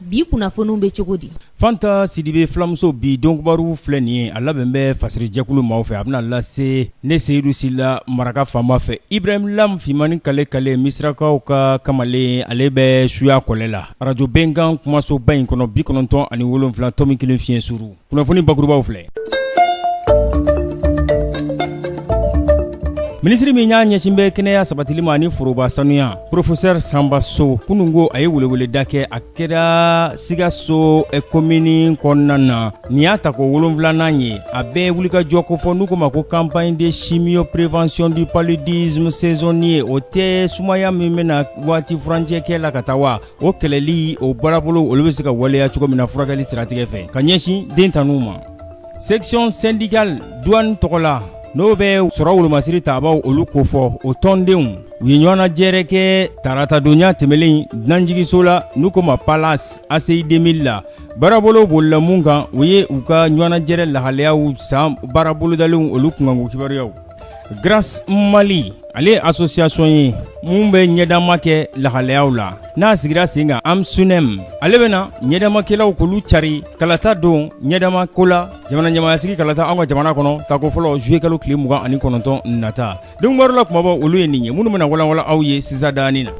Bi kunnafoniw bɛ cogo di fanta sidibe filamuso bi donkibaru filɛ nin ye a labɛn bɛ fasiri jɛkulu maaw fɛ a bɛna lase ne seyidu sila maraka faama fɛ ibrahim lam fimani kalekale misirakaw ka kamalen ale bɛ suya kɔlɛ la arajo bɛnkan kumasoba in kɔnɔ bi kɔnɔntɔn ani wolonwula tomi kelen fiɲɛ suru kunnafoni bakurubaw filɛ minisiri min y'a ɲɛsin bɛ kɛnɛya sabatili ma ani foroba sanuya professeur sanba so kunun ko a ye weleweleda kɛ a kɛra sikaso komini kɔnɔna na nin y'a tako wolonfilanan ye a bɛɛ wulikajɔ kofɔ n'u ko ma ko campagne de chimio prévention du paludisme saisonnier o tɛ sumaya min bɛ na waati furancɛ kɛ la ka taa wa o kɛlɛli o baarabolow olu bɛ se ka waleya cogo min na furakɛli siratigɛ fɛ ka ɲɛsin den tanuw ma section syndicale douane tɔgɔ la n'o bɛ sɔrɔ wolomasiri taabaw olu kofɔ o tɔndenw u ye ɲɔgɔnnajɛrɛ kɛ taratadonya tɛmɛlen dunanjigiso la n'u ko ma palace ACI 2000 la baarabolow bolila mun kan u ye u ka ɲɔgɔnnajɛrɛ lahalayaw san baarabolodalenw olu kunkanko kibaruyaw Grasse Mali ale ye association ye mun bɛ ɲɛdama kɛ lahalayaw la n'a sigira sen kan AMSUNEM ale bɛna ɲɛdamakɛlaw k'olu cari kalata don ɲɛdama ko la jamana ɲɛmaayasigi kalata anw ka jamana kɔnɔ tako fɔlɔ juillet kalo tile mugan ani kɔnɔntɔn nata donkibaru la kumabaw olu ye nin ye minnu bɛna walanwalan aw ye sisan daani na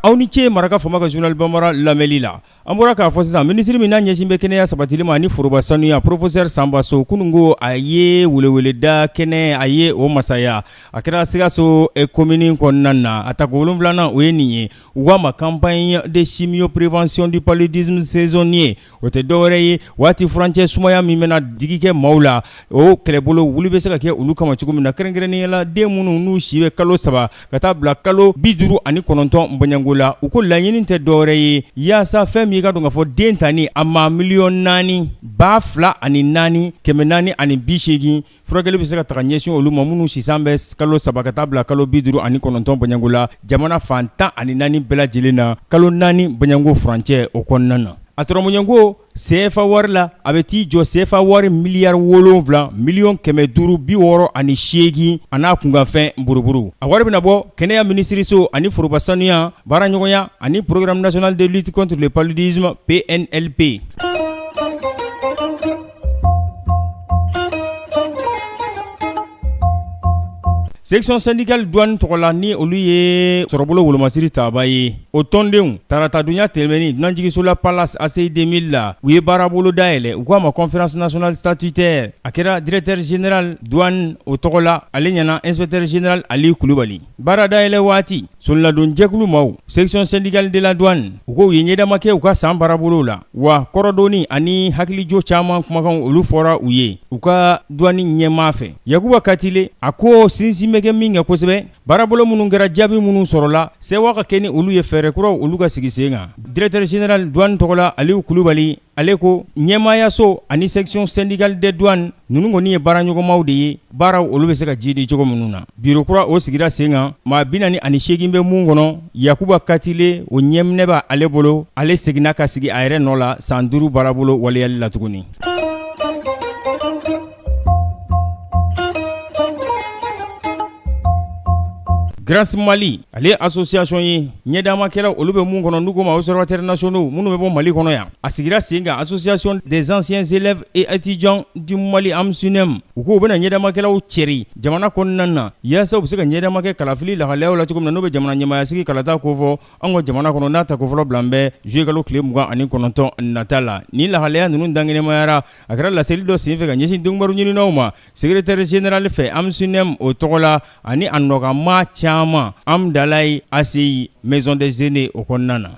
aw ni ce maraka faama ka journal banbara lamɛli la An bɔra k'a fɔ sisan minisiri min n'a ɲɛsin bɛ kɛnɛya sabatili ma ani foroba sanuya professeur sanba so kunun ko a ye weleweleda kɛnɛ a ye o masaya a kɛra sikaso komini kɔnɔna na a tako wolonwulanan o ye nin ye u k'a ma campagne de chimio prévention du paludisme saisonnier o tɛ dɔwɛrɛ ye waati furancɛ sumaya min bɛna digi kɛ maaw la o kɛlɛbolo wuli bɛ se ka kɛ olu kama cogo min na kɛrɛnkɛrɛnnenya la den minnu n'u si bɛ kalo saba ka taa bila kalo bi duuru ani kɔnɔntɔn bɔɲɔgɔngo la u ko laɲini tɛ dɔwɛrɛ ye yaasa fɛn min i ka dɔn k'a fɔ den tani a ma miliyɔn naani ba fila ani naani kɛmɛ naani ani bi seegin furakɛli bɛ se ka taga ɲɛsin olu ma minnu si san bɛ kalo saba ka taa bila kalo bi duuru ani kɔnɔntɔn bɔɲɔgɔngo la jamana fan tan ani naani bɛɛ lajɛlen na kalo naani bɔɲɔgɔngo furancɛ o kɔnɔna na a turaɲɔgɔnko Sefa wari la a bɛ t'i jɔ sefa wari miliyari wolonfila miliyɔn kɛmɛ duuru bi wɔɔrɔ ani seegin an'a kunkanfɛn buruburu a wari bɛna bɔ kɛnɛya minisiriso ani foroba sanuya baara ɲɔgɔnya ani programme national de lutte contre le paludisme PNLP section syndicale douane tɔgɔ la ni olu ye sɔrɔbolo wolomasiri taaba ye O tɔndenw taratadonya tɛmɛnen dunanjiginso la Palace ACI deux mille la, u ye baarabolo dayɛlɛ u k'a ma conférence nationale statutaire a kɛra directeur général douane o tɔgɔ la, ale ɲɛ na inspecteur général Ali Kulubali. Baara dayɛlɛ waati, soniladon jɛkulu maaw, section syndicale de la douane, u ko u ye ɲɛdama kɛ u ka san baarabolow la, wa kɔrɔdonni ani hakilijo caman kumakanw olu fɔra u ye u ka douane ɲɛmaa fɛ Yakuba Katile, a ko sinsin bɛ kɛ min kan kosɛbɛ, Baarabolo minnu kɛra jaabi minnu sɔrɔla sewa ka kɛ ni olu ye fɛɛrɛ kuraw olu ka sigi sen kan directeur général douane tɔgɔ la Aliyu Kulubali ale ko ɲɛmaayaso ani section syndicale des douanes ninnu kɔni ye baara ɲɔgɔnmaw de ye baaraw olu bɛ se ka jiidi cogo minnu na biro kura o sigira sen kan maa binaani ani seegin bɛ mun kɔnɔ Yakuba Katile o ɲɛminɛ b'ale bolo ale seginna ka sigi a yɛrɛ nɔ la san duuru baarabolo waleyali la tuguni Grasse Mali ale ye association ye ɲɛdaamakɛlaw olu bɛ mun kɔnɔ n'u k'o ma observateurs nationaux minnu bɛ bɔ Mali kɔnɔ yan a sigira sen kan association des anciens élèves et étudiants du Mali AMSUNEM u ko u bɛna ɲɛdaamakɛlaw cɛri jamana kɔnɔna na yaasa u bɛ se ka ɲɛdaama kɛ kalafili lahalayaw la cogo min na n'o bɛ jamana ɲɛmaayasigi kalata kofɔ an ka jamana kɔnɔ n'a tako fɔlɔ bilalen bɛ juillet kalo tile mugan ani kɔnɔntɔn nata la nin lahalaya ninnu dankɛnɛmayara a kɛra laseli dɔ senfɛ ka ɲɛsin donkibaru ɲininaw ma secrétaire général fɛ AMSUNEM o tɔgɔ la ani a nɔkanmaa caman Hamdallaye ACI Maison des Aînés o kɔnɔna na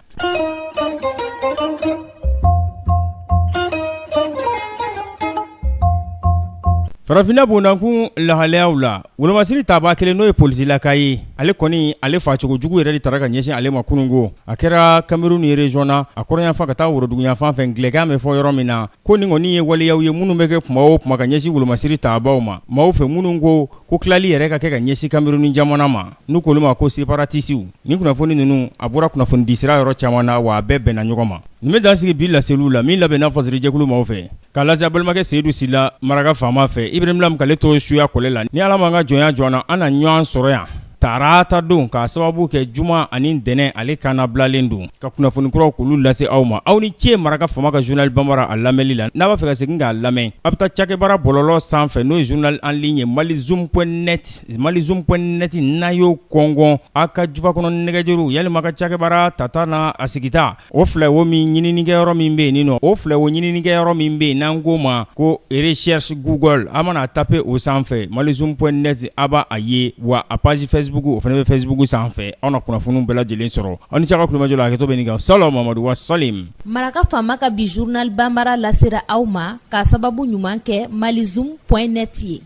Farafinna bondakun lahalayaw la Wolomasiri tabaa kelen n'o ye polisilaka ye ale kɔni ale facogo jugu yɛrɛ de tara ka ɲɛsin ale ma kunungo a kɛra Kameruni ye région na a kɔrɔnyanfan ka taa woroduguyanfan fɛ angilɛkan bɛ fɔ yɔrɔ min na ko nin kɔni ye waleyaw ye minnu bɛ kɛ kuma o kuma ka ɲɛsin wolomasiri tabaaw ma maaw fɛ minnu ko ko tilali yɛrɛ ka kɛ ka ɲɛsin Kameruni jamana ma n'u k'olu ma ko séparatistiw nin kunnafoni ninnu a bɔra kunnafonidisira yɔrɔ caman na wa a bɛɛ bɛnna ɲɔgɔn ma nin bɛ dan sigi bi laseliw la min labɛnna fasirijɛkulu maaw fɛ K'a lase aw balimakɛ Seyidu Sila maraka faama fɛ Ibrahim Lam k'ale to suya kɔlɛ la ni Ala ma an ka jɔnya jɔ an na ɲɔgɔn sɔrɔ yan tarata don k'a sababu kɛ juma ani ntɛnɛn ale kana bilalen don ka kunnafoni kuraw k'olu lase aw ma aw ni ce maraka faama ka journal banbara a lamɛnli la n'a b'a fɛ ka segin k'a lamɛn a bɛ taa cakɛbara bɔlɔlɔ sanfɛ n'o ye journal en ligne Malizoom point net Malizoom point net n'a y'o kɔngɔ aw ka jufa kɔnɔ nɛgɛjuru yalima ka cakɛbara tata n'a sigita O filɛ wo min ɲininikɛyɔrɔ min bɛ yen nin nɔ o filɛ wo ɲininikɛyɔrɔ min bɛ yen n'an k'o ma ko recherche Google a' mana taper o sanfɛ Malizoom point net a' b'a a ye wa a page Facebook o fana bɛ Facebook sanfɛ aw na kunnafoniw bɛɛ lajɛlen sɔrɔ aw ni ce aw ka tulomajɔ la hakɛto bɛ nin kan Sala Mahamadu wa salim. Maraka faama ka bi journal banbaara lasera aw ma k'a sababu ɲuman kɛ Malizoom point net ye.